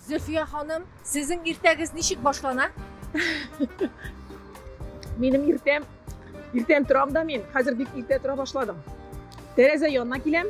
Зөлфия ханым, сезнең иртәгез ничек башлана? Минем иртәм, иртәм торам да мин, хәзер бик иртә тора башладым. Тәрәзә янына киләм,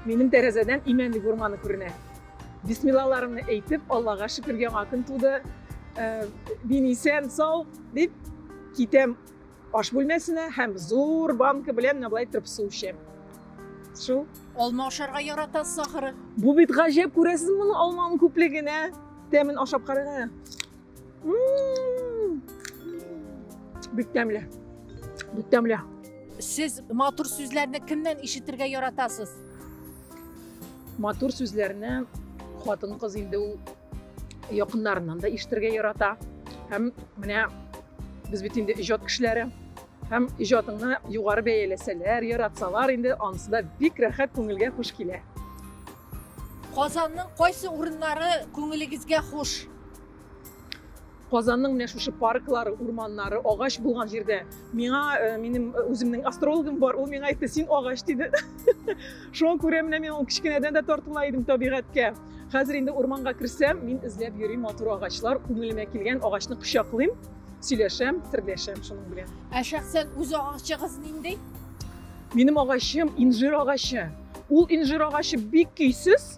минем тәрәзәдән имәнлек урманы күренә. Бисмиллаларымны әйтеп, Аллага шөкер, яңа көн туды. Мин исән, сау, дип китәм Аш бүлмәсенә һәм зур банка белән менә болай торып су эчә. Шул. Алма ашарга яратасыз ахыры. Бу бит гаҗәп, күрәсез моны алманың күплегенә. Тәмен ашап карагыз. Бик тәмле. Бик тәмле. Сез матур сүзләрне кемнән ишетергә яратасыз? Матур сүзләрне хатын-кыз инде ул якыннарыннан да ишетергә ярата һәм менә без бит инде иҗат кешеләре һәм иҗатыңны югары бәяләсәләр яратсалар инде анысы да бик рәхәт күңелгә хуш килә казанның кайсы урыннары күңелегезгә хуш Казанның менә шушы парклары, урманнары, агач булган җирдә миңа минем үземнең астрологым бар, ул миңа әйтте, син агач диде. Шуңа күрә менә мин ул кечкенәдән дә тартыла идем табигатькә. Хәзер инде урманга керсәм, мин эзләп йөрим матур агачлар, күңелемә килгән агачны кочаклыйм, сөйләшәм, серләшәм шуның белән. Ә шәхсән үз агачыгыз нинди? Минем агачым инжир агачы. Ул инжир агачы бик көйсез,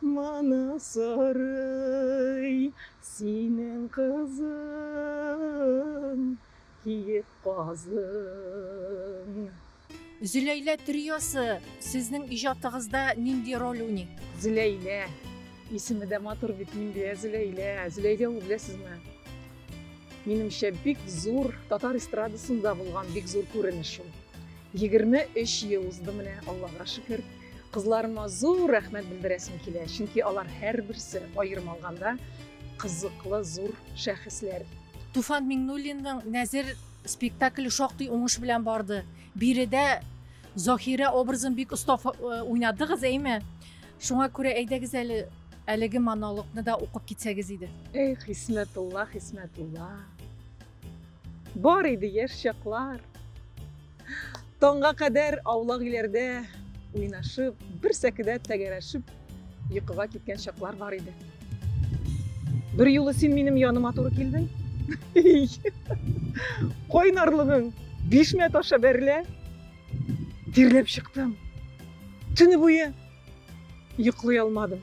Моны сорый синең кызың, киек казың. Зөләйлә триосы сезнең иҗатыгызда нинди роль уйный? Зөләйлә. Исеме дә матур бит, Миндия Зөләйлә. Зөләйлә ул беләсезме? Минемчә, бик зур татар эстрадасында булган бик зур күренеш ул. 23 ел узды менә, Аллага шөкер. Кызларыма зур рәхмәт белдерәсем килә, чөнки алар һәрберсе аерым алганда кызыклы зур шәхесләр. Туфан Миңнуллинның Нәзер спектакле шактый уңыш белән барды. Биредә Заһирә образын бик оста уйнадыгыз, әйме? Шуңа күрә әйдәгез әле әлеге монологны да укып китсәгез иде. Эх, Хисмәтулла, Хисмәтулла. Бар иде яшь чаклар. Таңга кадәр аулак иләрдә уйнашып, бер сәкедә тәгәрәшеп йокыга киткән чаклар бар иде. Бер юлы син минем яныма туры килдең. Кайнарлыгың бишмә таша бәрелә. Тирләп чыктым. Төне буе йоклый алмадым.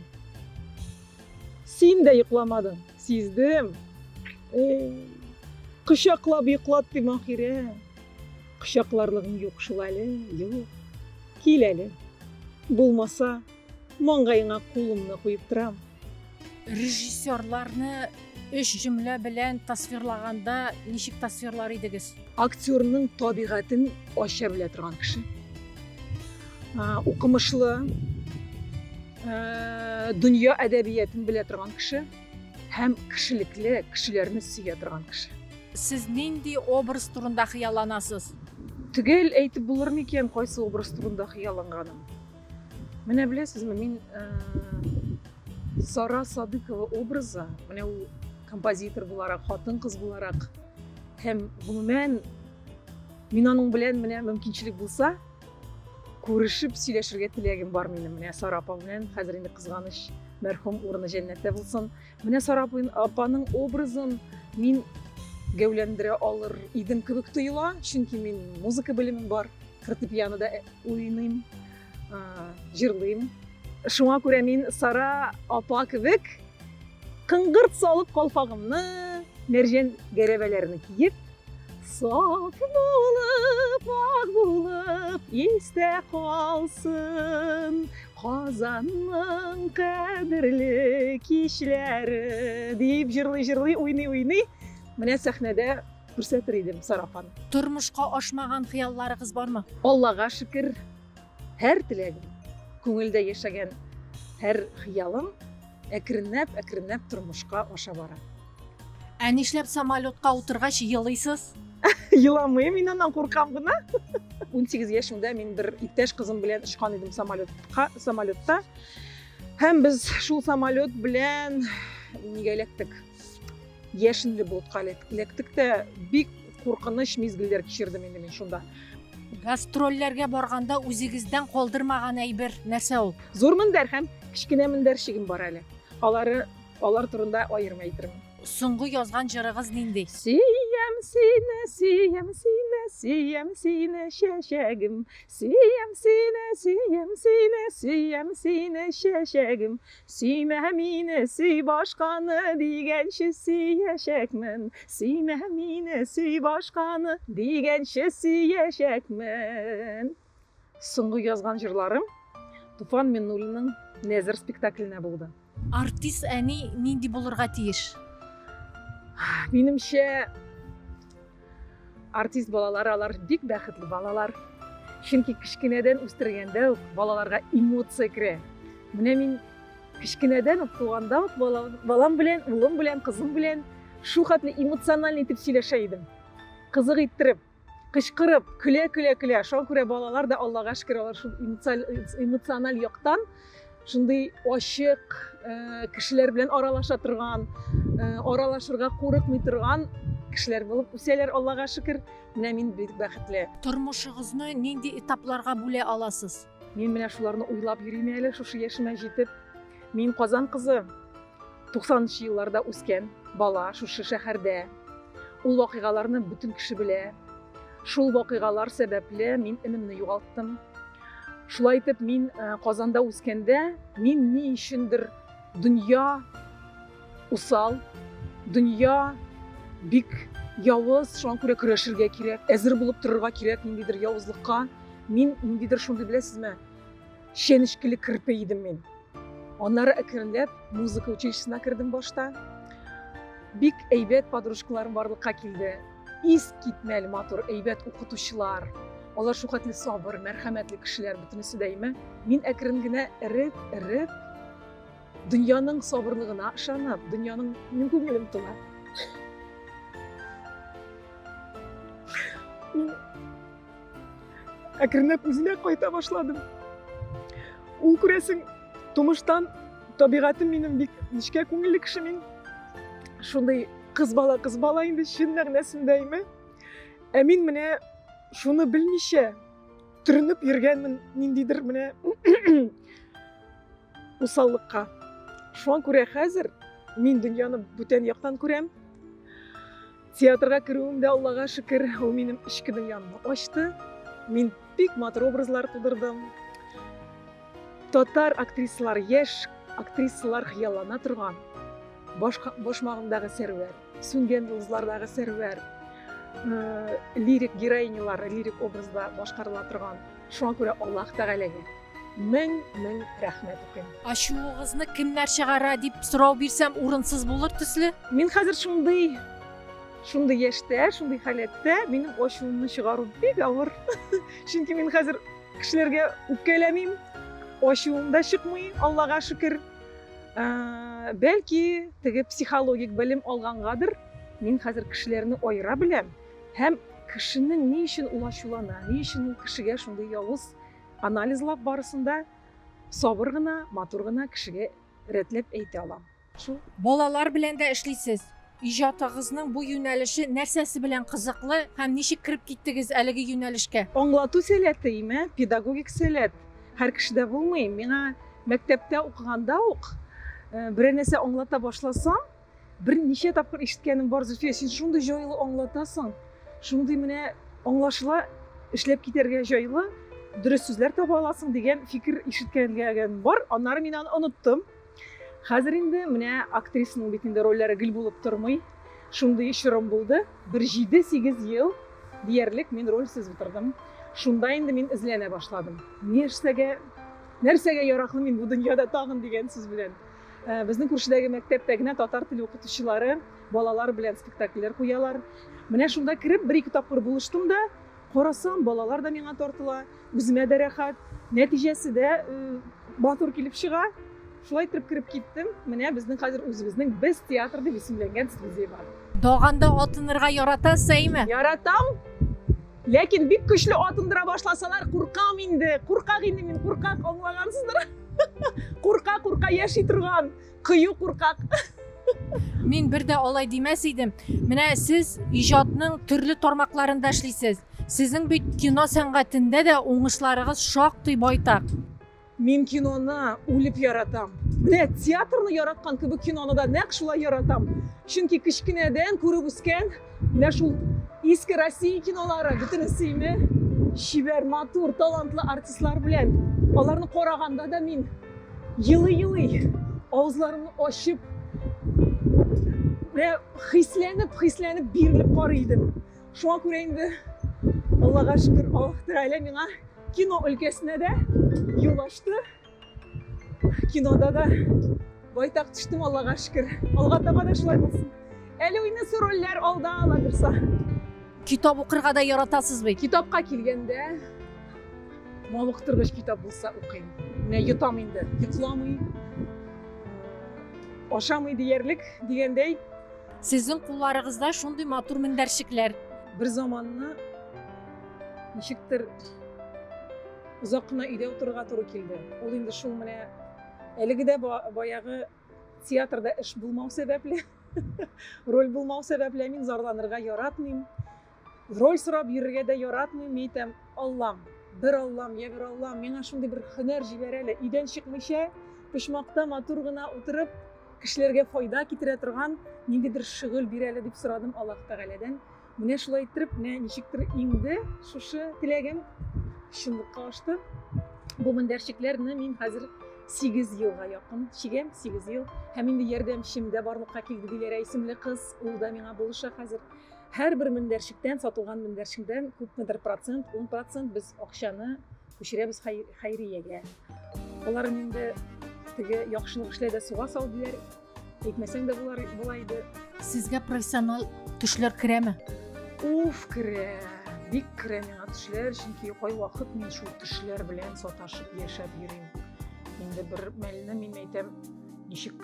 Син дә йокламадың, сиздем. Кочаклап йоклаттым ахире. Кочакларлыгың юк шул әле, юк. Кил әле. Булмаса, маңгаеңа кулымны куеп торам. Режиссерларны өч җөмлә белән тасвирлаганда ничек тасвирлар идегез? Актерның табигатен ача белә торган кеше. Укымышлы, дөнья әдәбиятын белә торган кеше. Һәм кешелекле, кешеләрне сөя торган кеше. Сез нинди образ турында хыялланасыз? Төгәл әйтеп булыр микән, кайсы образ турында хыялланганым? Менә беләсезме, мин э, Сара Садыкова образы, менә ул композитор буларак, хатын кыз буларак һәм гомумән мин аның белән менә мөмкинчелек булса, Күрешеп сөйләшергә теләгем бар минем менә Сара апа белән. Хәзер инде кызганыч мәрхүм урыны җәннәттә булсын. Менә Сара апаның образын мин гәүләндерә алыр идем кебек тоела, чөнки мин музыка белемем бар, фортепианода э, уйныйм, җырлыйм. Шуңа күрә мин Сара апа кебек кыңгырт салып калфагымны, мәрҗән гәрәбәләрне киеп, Сак булып, ак булып, истә калсын Казанның кадерле кичләре дип җырлый-җырлый, уйный-уйный менә сәхнәдә күрсәтер идем сарафан. Тормышка ашмаган хыялларыгыз бармы? Аллага шөкер, һәр теләгем, күңелдә яшәгән һәр хыялым әкренләп-әкренләп тормышка аша бара. Ә нишләп самолетка утыргач елыйсыз? Еламыйм, мин аннан куркам гына. 18 яшемдә мин бер иптәш кызым белән очкан идем самолетка, самолетта. Һәм без шул самолет белән нигә эләктек? Яшенле болытка эләктек тә бик куркыныч мизгелләр кичердем инде мин шунда. Гастрольләргә барганда үзегездән калдырмаган әйбер нәрсә ул? Зур мендәр һәм кечкенә мендәрчегем бар әле. Алары Алар турында аерым әйтермен. Соңгы язган җырыгыз нинди? Сөям сине, сөям сине, сөям сине, чәчәгем. Сөям сине, сөям сине, сөям сине, чәчәгем. Сөймә мине, сөй башканы, дигәнче сөячәкмен. Сөймә мине, сөй башканы, дигәнче сөячәкмен. Соңгы язган җырларым Туфан Миннуллинның Нәзер спектакленә булды. Артист әни нинди булырга тиеш? Минемчә, артист балалар алар бик бәхетле балалар. Чөнки кечкенәдән үстергәндә үк балаларга эмоция керә. Менә мин кечкенәдән үк туганда ук балам белән, улым белән, кызым белән шул хәтле эмоциональ итеп сөйләшә идем. Кызык иттереп, кычкырып, көлә, көлә, көлә. Шуңа күрә балалар да Аллага шөкер, алар шул эмоциональ яктан шундый ачык, э, кешеләр белән аралаша торган, э, аралашырга курыкмый торган кешеләр булып үсәләр, Аллага шөкер. Менә мин бик бәхетле. Тормышыгызны нинди этапларга бүлә аласыз? Мин менә шуларны уйлап йөрим әле, шушы яшемә җитеп. Мин Казан кызы. 90 нчы елларда үскән бала шушы шәһәрдә. Ул вакыйгаларны бөтен кеше белә. Шул вакыйгалар сәбәпле мин энемне югалттым. Шулай итеп, мин э, Казанда үскәндә, мин ни өчендер дөнья усал, дөнья бик явыз, шуңа күрә көрәшергә кирәк, әзер булып торырга кирәк ниндидер явызлыкка. Мин ниндидер шундый, беләсезме, Чәнечкеле керпе идем мин. Аннары әкренләп музыка училищесына кердем башта. Бик әйбәт подружкаларым барлыкка килде. Ис китмәл матур, әйбәт укытучылар. Алар шухәтле сабыр, мәрхәмәтле кешеләр бөтенесе дәйме. Мин әкрен генә эреп, эреп, дөньяның сабырлыгына ышанып, дөньяның мин күңелем тона. Мин әкренләп үзенә кайта башладым ул күрәсең тумыштан табигатем минем бик нечкә күңелле кеше мин шундый кыз бала кыз бала инде чын мәгънәсендә име ә мин менә шуны белмичә төренеп йөргәнмен ниндидер менә усаллыкка шуңа күрә хәзер мин дөньяны бүтән яктан күрәм Театрга керүем дә, Аллага шөкер, ул минем эчке дөньямны ачты. Мин бик матур образлар тудырдым. Татар актрисалар, яшь актрисалар хыяллана торган башмагымдагы сәрвәр, сүнгән йолдызлардагы сәрвәр, лирик героинялары лирик образда башкарыла торган Шуңа күрә Аллаһ Тәгаләгә мең-мең рәхмәт укыйм. Ачуыгызны кемнәр чыгара, дип сорау бирсәм, урынсыз булыр төсле. Мин хәзер шундый, шундый яшьтә, шундый халәттә, минем ачуымны чыгару бик авыр. Чөнки мин хәзер кешеләргә үпкәләмим, ачуым да чыкмый, Аллага шөкер. Бәлки, теге психологик белем алгангадыр, мин хәзер кешеләрне аера беләм. Һәм кешенең ни өчен ул ачулана, ни өчен ул кешегә шундый явыз анализлап барысын да сабыр гына, матур гына кешегә рәтләп әйтә алам. Шул. Балалар белән дә эшлисез. Иҗатыгызның бу юнәлеше нәрсәсе белән кызыклы һәм ничек кереп киттегез әлеге юнәлешкә? Аңлату сәләте, име, педагогик сәләт һәр кешедә булмый. Миңа мәктәптә укыганда ук берәр нәрсә аңлата башласам, Бер ничә тапкыр ишеткәнем бар, Зөлфия, син шундый җайлы аңлатасың, шундый менә аңлашыла, эшләп китәргә җайлы, дөрес сүзләр таба аласың дигән фикер ишеткәнгән бар. Аннары мин аны оныттым. Хәзер инде менә актрисаның бит инде рольләре гел булып тормый. Шундый чорым булды. Бер 7-8 ел диярлек мин рольсез утырдым. Шунда инде мин эзләнә башладым. Нәрсәгә нәрсәгә яраклы мин бу дөньяда тагын дигән сүз белән. Э, безнең күршедәге мәктәптә генә татар теле укытучылары балалар белән спектакльләр куялар менә шунда кереп бер ике тапкыр булыштым да карасам балалар да миңа тартыла үземә дә рәхәт нәтиҗәсе дә э, матур килеп чыга шулай итеп кереп киттем менә безнең хәзер үзебезнең без театр дип исемләнгән студия бар даганда атынырга ярата сәйме яратам Ләкин бик көчле атындыра башласалар, куркам инде, куркак инде мин, куркак, аңлагансыздыр. Курка, курка яши торган, кыю куркак. Мин бер дә алай димәс идем. Менә сез иҗатның төрле тармакларында эшлисез. Сезнең бит кино сәнгатендә дә уңышларыгыз шактый байтак. Мин киноны үлеп яратам. Менә театрны яраткан кебек киноны да нәкъ шулай яратам. Чөнки кечкенәдән күреп үскән менә шул иске Россия кинолары бөтенесенә чибәр, матур, талантлы артистлар белән аларны караганда да мин елый-елый авызларымны ачып, хисләнеп, хисләнеп бирелеп карый идем. Шуңа күрә инде Аллага шөкер, Аллаһ Тәгалә миңа кино өлкәсенә дә юл ачты. Кинода да байтак төштем, Аллага шөкер. Алга таба да шулай булсын. Әле уйнысы рольләр алда аладырса. Китап укырга да яратасыз бит. Китапка килгәндә, мавыктыргыч китап булса укыйм. Менә йотам инде, йокламый, ашамый диярлек дигәндәй, Сезнең кулларыгызда шундый матур мендәрчекләр. Бер заманны ничектер озак кына өйдә утырырга туры килде. Ул инде шул менә әлеге дә баягы театрда эш булмау сәбәпле, роль булмау сәбәпле мин зарланырга яратмыйм. Роль сорап йөрергә дә яратмыйм, ни итәм, Аллам, бер Аллам, йә бер Аллам, миңа шундый бер хөнәр җибәр әле, өйдән чыкмыйча, почмакта матур гына утырып, кешеләргә файда китерә торган ниндидер шөгыль бир әле, дип сорадым Аллаһ Тәгаләдән. Менә шулай иттереп, менә ничектер иңде шушы теләгем, чынлыкка ашты. Бу мендәрчекләрне мин хәзер 8 елга якын чигәм, 8 ел. Һәм инде ярдәмчем дә барлыкка килде, Диләрә исемле кыз, ул да миңа булыша хәзер. Һәрбер мендәрчектән, сатылган мендәрчеңдән күпмедер процент, 10 процент без акчаны күчерәбез хәйриягә. Алар инде теге яхшылык эшлә дә суга сал диләр. Әйтмәсәң дә болар була иде. Сезгә профессиональ төшләр керәме? Уф, керә. Бик керә миңа төшләр, чөнки кайвакыт мин шул төшләр белән саташып яшәп йөрим. Инде бер мәлне мин әйтәм, ничек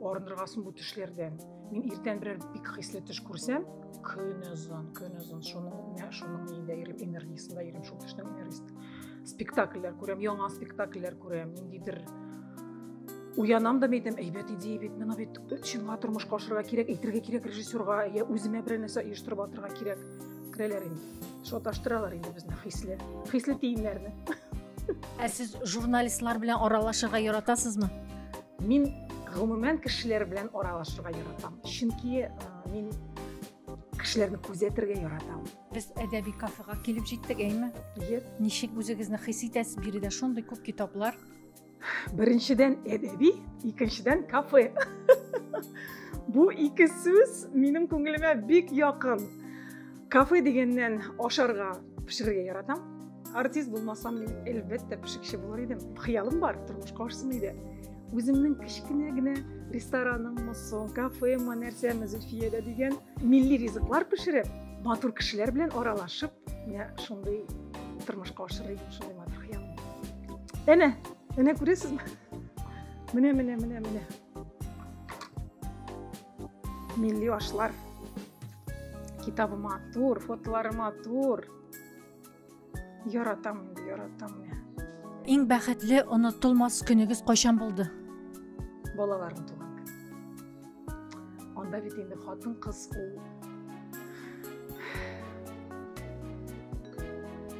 арындыргансың бу төшләрдән мин иртән берәр бик хисле төш күрсәм көн озын көн озын шуның шуның өендә йөрим энергиясендә йөрим шул төшнең энергиясендә спектакльләр күрәм яңа спектакльләр күрәм ниндидер уянам да әйтәм әйбәт идея бит мына бит чынга тормышка ашырырга кирәк әйтергә кирәк режиссерга я үземә берәр нәрсә оештырып атырга кирәк керәләр инде шаташтыралар инде безне хисле хисле тиеннәрне ә сез журналистлар белән аралашырга яратасызмы Мин гомумән кешеләр белән аралашырга яратам. Чөнки мин кешеләрне күзәтергә яратам. Без әдәби кафега килеп җиттек, әйме? Yes. Ничек үзегезне хис итәсез? Биредә шундый күп китаплар. Беренчедән әдәби, икенчедән кафе. Бу ике сүз минем күңелемә бик якын. Кафе дигәннән ашарга пешерергә яратам артист булмасам мин әлбәттә пешекче булыр идем хыялым бар тормышка ашсын иде үземнең кечкенә генә рестораным мосо кафема нәрсәме зөлфиядә дигән милли ризыклар пешереп матур кешеләр белән аралашып менә шундый тормышка ашырыр идем шундый матур хыялым әнә әнә күрәсезме менә менә менә менә Милли ашлар. Китабы матур, фотолары матур. Яратам, яратам. Иң бәхетле онытылмас көнегез кайчан булды? Балаларым туган көн. Анда бит инде хатын кыз ул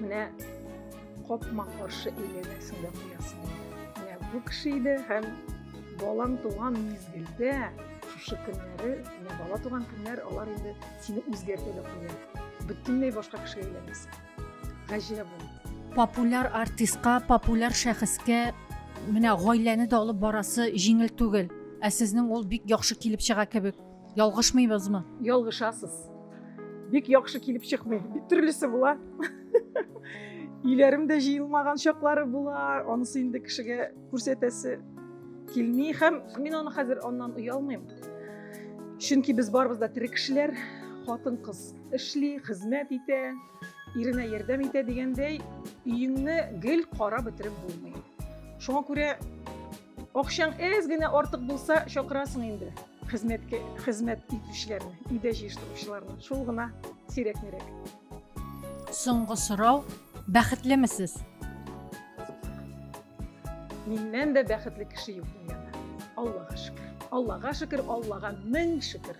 менә Капма каршы әйләнәсең дә куясың. Менә бу кеше иде һәм балаң туган мизгелдә шушы көннәре, менә бала туган көннәр алар инде сине үзгәртә дә куя. Бөтенләй башка кешегә әйләнәсең. Гаҗәп ул. Популяр артистка, популяр шәхескә менә гаиләне дә алып барасы җиңел түгел. Ә сезнең ул бик яхшы килеп чыга кебек. Ялгышмыйбызмы? Ялгышасыз. Бик яхшы килеп чыкмый. Бик төрлесе була. Иләрем дә җыелмаган чаклары була. Анысы инде кешегә күрсәтәсе килми һәм мин аны хәзер аннан оялмыйм. Чөнки без барыбыз да тере кешеләр, хатын-кыз эшли, хезмәт итә, Иренә ярдәм итә дигәндәй, өеңне гел карап бетереп булмый. Шуңа күрә акчаң әз генә артык булса, чакырасың инде хезмәткә хезмәт итүчеләрне, өйдә җыештыручыларны. Шул гына сирәк-мирәк. Соңгы сорау, бәхетлемесез? Миннән дә бәхетле кеше юк дөньяда. Аллага шөкер. Аллага шөкер, Аллага мең шөкер.